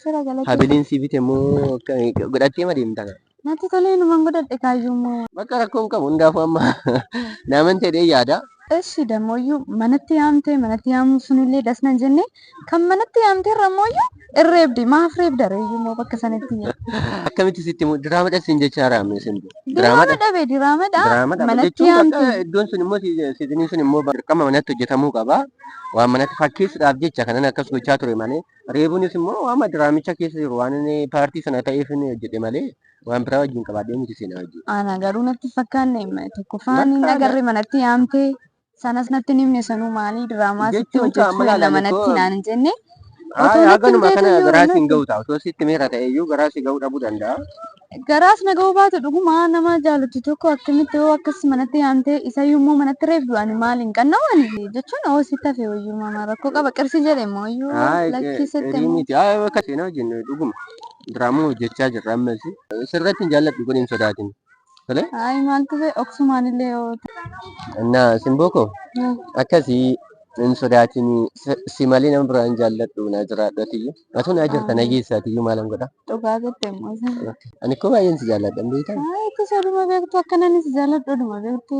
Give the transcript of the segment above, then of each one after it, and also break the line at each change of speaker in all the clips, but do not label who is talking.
Shira galate. Habiliin si bite moo
godhattee ma deemta kana? Natti tolee numan
godhadhe kaayyuu immoo. Bakka rakkoo hin qabu
hundaafuu amma naaman jedhee yaada. Eshi damooyyu
manatti yaamte manatti yaamuun sunillee das nan jenne kan manatti yaamte irra mooyyu irreebde maaf reebda reeyyu immoo bakka sanatti Akkamitti sitti
himu diraama dhas siin jechaa raamne isin diraama dha dhabe diraama dha
diraama dha manatti jechuun yaamte bakka iddoon sun immoo si-
siiziniin sun immoo dirqama manatti hojjetamuu qaba waan manatti fakkeessuudhaaf jecha kanan akkas gochaa ture malee Reebuunis immoo waama diraamicha keessa jiru waan inni paartii sana ta'eef inni hojjete malee waan biraa wajjin qabaadhee miti seenaa wajjin. Ana garuu natti
fakkaanne tokkoffaa inni Bakka agarre manatti yaamte sanas natti hin himne sanuu maalii diraamaa sitti Jechuun hojjechuu qaama yaalla laalee manatti koo- naan hin jenne Haa Otoo haa natti hin ganuma
kana beekne garaa iyyuu siin ga'u ta'a. Osoo sitti meera ta'e iyyuu garaa si ga'uu dhabuu danda'a. Garaas na
ga'uu baatu dhuguma nama jaalattu tokko akkamitti hoo akkas manatti yaamtee isayyuu immoo manatti reebdu ani maaliin qanna'u ani jechuun hoo sitti hafe wayyuu mama rakkoo qaba qarshii jedhe immoo iyyuu Haa lakkii sitti erii immoo miti. Haa bakka
seenaa hojjennu dhuguma. Diraamaa hojjechaa jirra amma ishee. Sirratti hin jaalladhu kun hin sodaatin. Tolee? Ayi
maaltu ta'e oksumaan illee yoo Innaa
simboo koo ta'e. akkasii hin sodaatin si malee nama biraa hin jaalladhu naa jiraadhu atiyyuu. Atuu naa jirta na geessa atiyyuu maalan godha. Dhugaa jette immoo
isa. Ani koo baay'een
si jaalladha beektaa? Itti sooduma beektu
akkanan si jaalladhu dhuma beektu.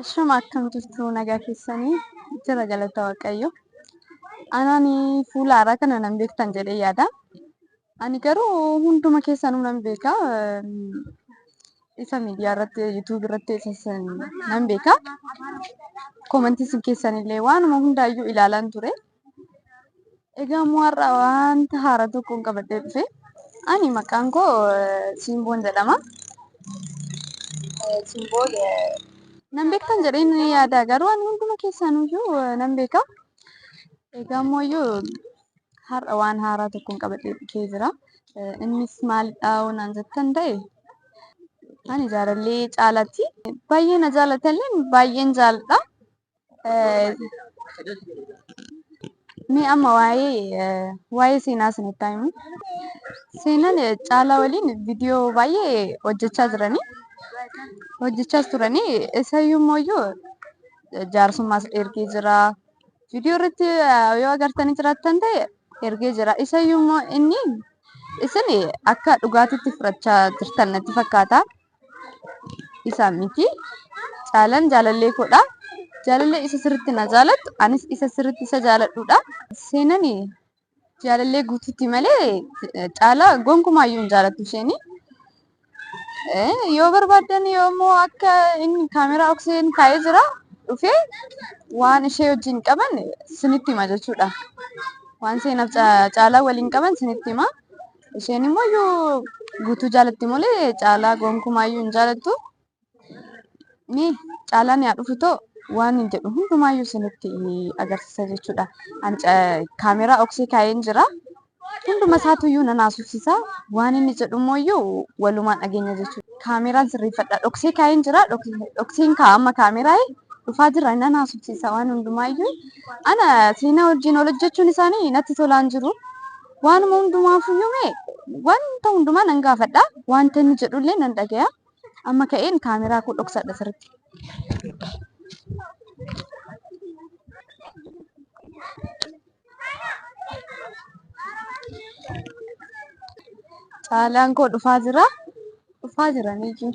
Ashama akkam jirtu nagaa keessanii jira galata waaqayyo. Anani fuula haaraa kana nan beektan jedhee yaada. Ani garuu hunduma keessanuu nan beeka. Isa miidiyaa irratti yuutuubii irratti isas nan beeka. Koomantii isin keessanillee waanuma hundaayyuu ilaalaan ture. Egaa immoo har'a wanta haaraa tokkoon qabadhee dhufe. Ani maqaan koo Simboon jedhama. Simboon nan beektan jedheen yaada garuu ani hunduma keessaniyyuu nan beeka. Egaa immoo iyyuu har'a waan haaraa tokkoon qabadhee dhufee jira. Innis maalidha naan jettan ta'e ani jaalallee caalaatti baay'ee na jaalatallee baay'een jaaladha. Mee amma waa'ee waa'ee seenaa isinitti himu. Seenaan caalaa waliin viidiyoo baay'ee hojjechaa jiranii hojjechaas turanii isayyuu immoo iyyuu jaarsummaas ergee jira. Viidiyoo irratti yoo agartanii jiraattan ta'e ergee jira. Isayyuu immoo inni isin akka dhugaatitti fudhachaa jirtan natti fakkaata. Isa miti. Caalan jaalallee koodha. Jaalallee isa sirriitti na jaalattu, anis isa sirriitti isa jaaladhuudha. Seenan jaalallee guutuutti malee caalaa gonkumaa iyyuu hin jaalattu isheen. Yoo barbaaddan yoommoo akka inni kaameraa okseen kaa'ee jira dhufee waan ishee wajjin qaban sinitti hima jechuudha. Waan seenaaf caalaa waliin qaban sinitti hima. Isheen immoo iyyuu guutuu jaalatti malee caalaa gonkumaa iyyuu hin jaalattu. Ni caalaan yaa dhufu too waan hin jedhu hundumaa iyyuu isinitti agarsiisa jechuudha. Ani ca- kaameeraa oksii kaa'een jira. Hunduma isaatu iyyuu nan haasofsiisa. Waan inni jedhu immoo iyyuu walumaan dhageenya jechuudha. Kaameeraan sirreeffadha. Dhoksee kaa'een jira. Dhok- Dhokseen kaa'a amma kaameeraa dhufaa jira nan haasofsiisa waan hundumaa iyyuu. Ana seenaa wajjin ol hojjechuun isaanii natti tolaan jiru. Waanuma hundumaafuyyuu mee wanta hundumaa nan gaafadha. Wanta inni jedhullee nan dhagaya. Amma ka'een kaameraa koo dhoksadha sirriitti. Caalaan koo dhufaa jira. Dhufaa jira niitiin.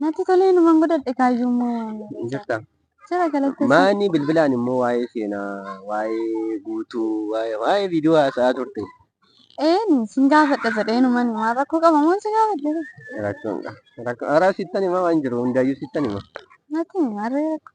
Natti tolee numan
godhadhe kaayyuu immoo Hin jirtaa?
jira galatti
Maani bilbilaan immoo
waa'ee seenaa, waa'ee guutuu, waa'ee waa'ee viidiyoo haasa'aa turte. eenu
sin gaafadha jedhee numan waan rakkoo qaba moon si gaafadhe Rakkoon qaba.
Rakkoon araa sittan himaa waan jiru hundaayyuu sittan hima. natti himi harree
rakkoo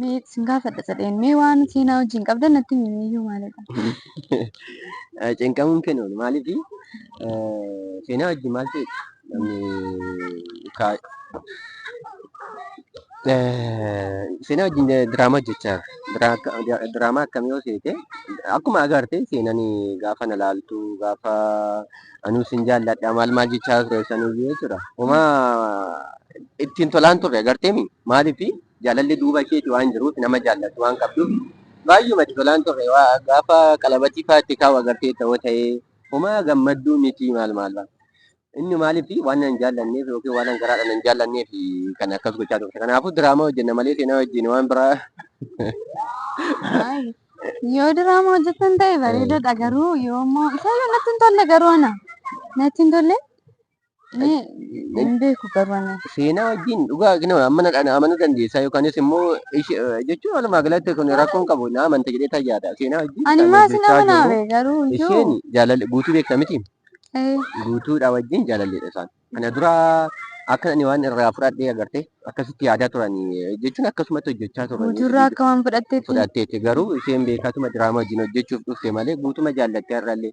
Mee sin gaafadha sadheen. Mee waan seenaa wajjin qabdan natti himi miyyuu maalidha? Cinqamuun
kennu maaliif seenaa wajjin maal ta'e seenaa wajjin diraamaa hojjechaa diraamaa akkamii yoo seete akkuma agarte seenan gaafa na laaltu gaafa anuu sin jaalladha maal maal jechaa ture sanuyyuu jechuudha. Homaa ittiin tolaan turre agarteemi maaliif Jaalalli duuba keeti waan jiruuf nama jaallattu waan qabduuf baayyuma itti tolaan ture gaafa qalabatii faa itti kaa'u agarteetta hoo ta'ee. Homaa gammadduu mitii maal maal baa inni maaliif waan nan jaallanneef yookiin waanan garaadha nan jaallanneef kan akkas gochaa turte kanaafuu diraamaa hojjenna malee seenaa wajjin waan biraa
Yoo diraama hojjetan ta'e bareedaadha garuu yoo immoo isa yoo natti hin tolle garuu ana natti hin tolle Hin beeku qabana. Seenaa wajjin dhugaa
kinu amma na dhana amanuu dandeessaa yookaanis immoo ishi- eh, jechuun walumaa galatti kun rakkoon qabu na amanta jedhee tan yaada. Seenaa wajjin Ani kan maa sin hojjechaa jiru amanaabe
garuu isheen iyyuu. jaalalli
guutuu beekta miti. Eh, Guutuudhaa wajjin jaalalleedha isaan. Kana dura akka ani waan irraa fudhadhee agarte akkasitti yaadaa turanii jechuun akkasumatti hojjechaa turanii. Guutuurraa akka waan fudhatteetti.
fudhatteetti garuu
isheen beekatuma diraamaa wajjin hojjechuuf dhufte malee guutuma jaallattee har'allee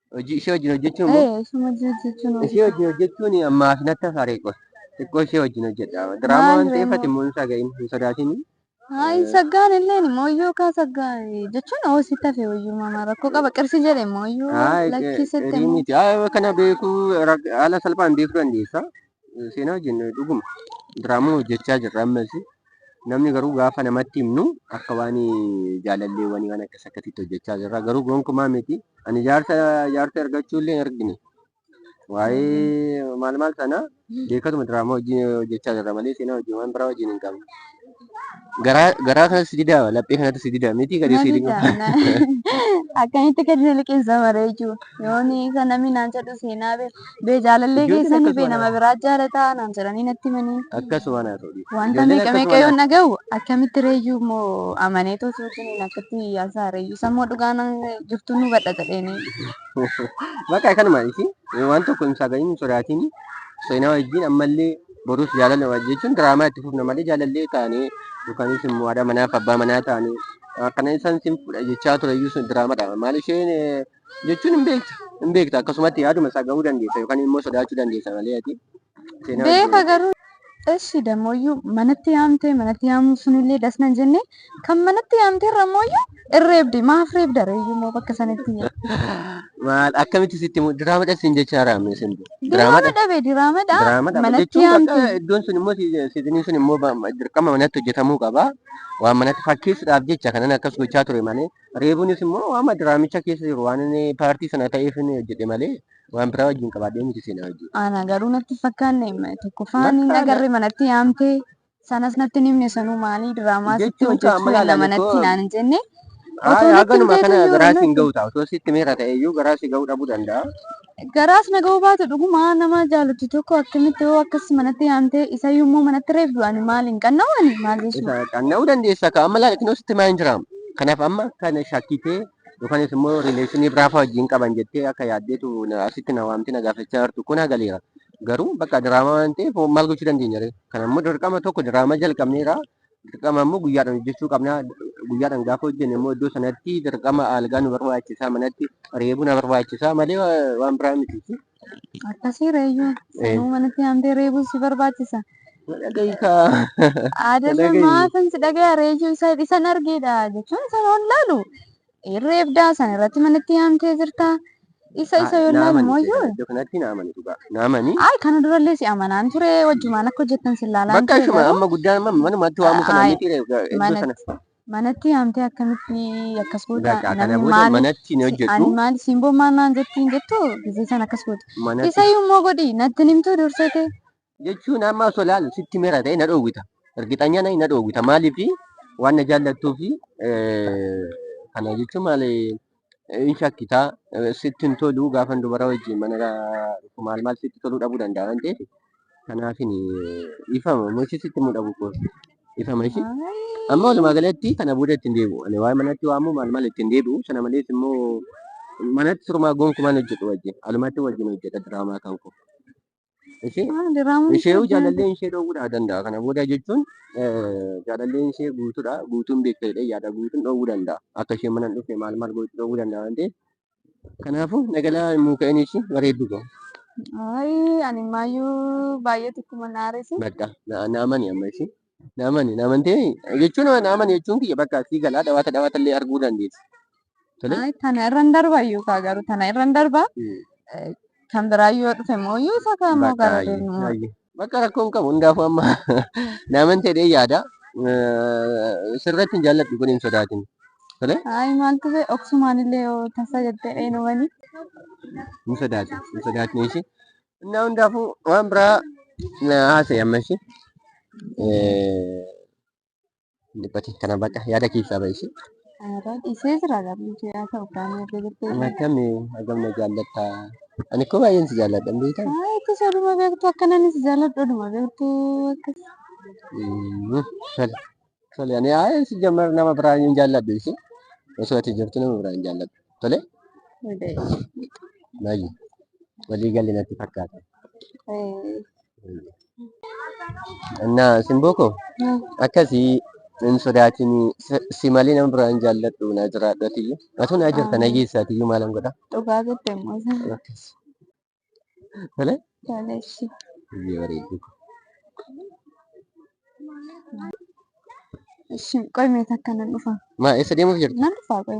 hojii ishee wajjin hojjechuun immoo Eh, ishuma jechuun ishee wajjin hojjechuun ammaa fi natti hafaaree qoy xiqqoo ishee wajjin hojjedha diraamaa Maal waan ta'eef ree ati immoo hin saga'iin hin sodaatiin Haa hin saggaan
illee immoo iyyuu kaa saggaa jechuun hoo si tafe wayyuu mama rakkoo qaba qirsi jedhe immoo iyyuu haa lakkii sitti qirii immoo miti haa kana
beekuu rak- haala salphaan beekuu dandeessa seenaa wajjin dhuguma diraamaa hojjechaa jirra ammas Namni garuu gaafa namatti himnu akka waan jaalallee wanii waan akkas akkasitti hojjechaa jirra. Garuu gonkumaa miti. Ani jaarsa jaarsa ergachuu illee hin argine. Waa'ee maal maal sana beekatuma diraamaa hojii hojjechaa jirra malee seenaa hojii waan biraa hojiin hin qabne. Garaa garaa kanatti si didaa laphee kanatti si didaa miti gadi si didaa.
Akkamitti gadi na liqeessa mara jechuudha. Yooni kan namni naan jedhu seenaa beeku. Bee jaalallee Ijoolleen keessan akkasuma bee nama naan- biraa jaalataa naan jedhanii natti himanii. Akkasuma naa ta'u dhiisu.
Wanta Ijoolleen meeqa meeqa akkasuma yoon
naa- dhagahu akkamitti reeyyuu immoo amanee too suutiin akkatti yaasaa reeyyuu sammoo dhugaa nan jirtu nu badha jedheenii.
Bakka kanuma isi waan tokko hin saagayin hin sodaatin seenaa wajjin ammallee borus jaalala wajjin jechuun diraamaa itti fufna malee jaalallee taanee yookanis immoo haadha manaa fi abbaa manaa taanee akkana isaan sin fudha jechaa ture iyyuu sun diraamaadha. Maal isheen eh, jechuun hin beekta. Hin beekta akkasumatti yaaduma isaa gahuu dandeessa yookaan immoo sodaachuu dandeessa malee ati seenaa Beeka wajjin
garuu eshi damooyyuu manatti yaamtee manatti yaamuu sunillee das nan jenne kan manatti yaamtee irra mooyyuu irreebde maaf reebda reeyyuu moo bakka sanitti maal
akkamitti sitti mu- diraama dhas hin jechaa raamne sin diraama diraama dha dhabe diraama
dha diraama dha manatti jechuun bakka yaamte iddoon sun immoo si-
siidiniin sun immoo ba- dirqama manatti hojjetamuu qaba waan manatti fakkeessuudhaaf jecha kanan akkas gochaa ture malee Reebuunis immoo waama diraamicha keessa jiru waan inni paartii sana ta'eef inni hojjete malee waan biraa wajjin qabaadhee miti seenaa wajjin. Ana garuu natti hin
fakkaanne tokkoffaa inni Bakka agarre manatti yaamte sanas natti hin himne sanuu maalii diraamaa sitti Jechuun hojjechuu amma eegna ilaalame manatti koo- naan hin jenne Haa otoo natti haganuma
himteetu kana iyyuu garaa siin natti gahu ta'a. Osoo sitti meera ta'e iyyuu garaa si gahuu dhabuu danda'a. Garaas na
ga'uu baatu dhuguma nama jaalattu tokko akkamitti hoo akkas manatti yaamtee isayyuu immoo manatti reebdu ani maal hin qanna'u ani maal jechuudha. Isa qanna'uu dandeessa ka
amma laakiin sitti maa hin jiraam. Kanaaf amma kana shakkitee yookanis immoo rileeshinii biraa fa'aa wajjin qaban jettee akka yaaddeetu na- asitti na waamtee na gaafachaa jirtu kun hagaleera. Garuu bakka diraamaa waan ta'eef hoo maal gochuu dandeenya ree? Kana immoo dirqama tokko diraamaa jalqabneera dirqama immoo guyyaadhaan hojjechuu qabna. Guyyaadhaan gaafa hojjenne immoo iddoo sanatti dirqama algaa nu barbaachisaa manatti reebuu na barbaachisaa malee waan biraa miti. Akkasii
reeyyuu sanuu manatti yaamtee reebuun si barbaachisa.
Adama
maafin si dhagaya reeyyuu isa isan argeedha jechuun isan ol laalu. Hin reebdaa san irratti manatti yaamtee jirta. Isa isa yoo Naamani ilaallu ishee kana mooyyuu. iddoo kanatti naamani
dhugaa. Naamani. Ay kana durallee si
amanaan ture wajjumaan akka hojjettan si ilaalaan Bakka ture ishuma garuu amma guddaan
amma manumatti waamuu kana Ay, miti ree iddoo sana. manatti manatti yaamtee
akkamitti akkas goota Bakka kana namni booda maali manatti
ni si- hojjedhu. ani maali siin bommannaan
jettiin jettu gisee san akkas goota. Manatti. Isa immoo godhi natti hin himtuu dursete
jechuun amma osoo ilaalu sitti mera ta'e na dhoowwita. Ergixanya na dhoowwita. Maaliif waan na jaallattuu fi kana jechuun maal hin shakkitaa sitti hin tolu gaafan dubara wajjin mana dhufu maal maal sitti toluu dhabuu danda'a waan ta'eef kanaafin ifama mochi sitti immoo dhabuu koo ifama ishee. Amma walumaa galatti kana booda ittiin deebi'u. Ani waa'ee manatti waamuu maal maal ittiin deebi'u sana malees immoo manatti sirumaa gonkumaan hojjedhu wajjin alumatti wajjin hojjedha diraamaa kan koo. Ishee Waan diraamuun ishee isaa jaalalleen ishee dhoowwuudhaa danda'a. Kana booda jechuun eh, jaalalleen ishee guutuudha. Guutuun beekta jedhee yaada guutuun dhoowwuu danda'a. Akka isheen mana hin dhufne maal maal gochuu dhoowwuu danda'a waan ta'eef. Kanaafuu nagalaa muuka'een ishee bareedduu ta'u. Ayi
ani maayyuu baay'ee tokkuma naarese. Bakka na- naamani
amma ishee. Naamani naamantee jechuun naamani jechuun kiyya bakka sii galaa dhawaata dhawaata illee arguu dandeessi. Tole. Ay, tana
irra hin darba iyyuu kaa garuu tana irra hin darba Eh, kan biraa yoo dhufe immoo iyyuu isa kaa immoo Bakka gara ayyi, deemnu ayyi. Bakka rakkoo hin qabu
hundaafuu amma naamantee dhee yaada. Eh, Sirratti hin jaalladhu kun hin sodaatin. Tole ay
maaltu bee oksumaan illee yoo tasa jettee dheenuwani hin
sodaatin hin sodaatin ishee. Innaa hundaafuu waan biraa na haasa'e amma ishee. Dhiphate kana baqa yaada keessaa ba'e ishee. Aadaa dhiisee jira
lammii kee haa ta'u kaanii erga jettee Amma jira. akkami hagam
na jaallatta. Ani koo baay'een si jaalladha beektaa? Haa itti sooduma beektu
akkananis jaalladhu dhuma beektu akkas. Mm, Tole.
Tole ani haa si jammar nama biraa hin jaalladhu isi. Osoo ati jirtu nama biraa hin jaalladhu. Tole baay'ee walii galli natti fakkaata. Innaa simboo koo akkasii hin sodaatin si- si malee nama biraa hin jaalladhu naa jiraadhu atiyyu. Atuu naa jirta na geessa atiyyu maalan godha. Dhugaa jette immoo.
Akkas.
Tole? Tole
ishii. Baay'ee bareedu.
Ishii
qoy mee takka nan dhufa.
Maa eessa
deemuuf jirtu? Nan dhufa qoy.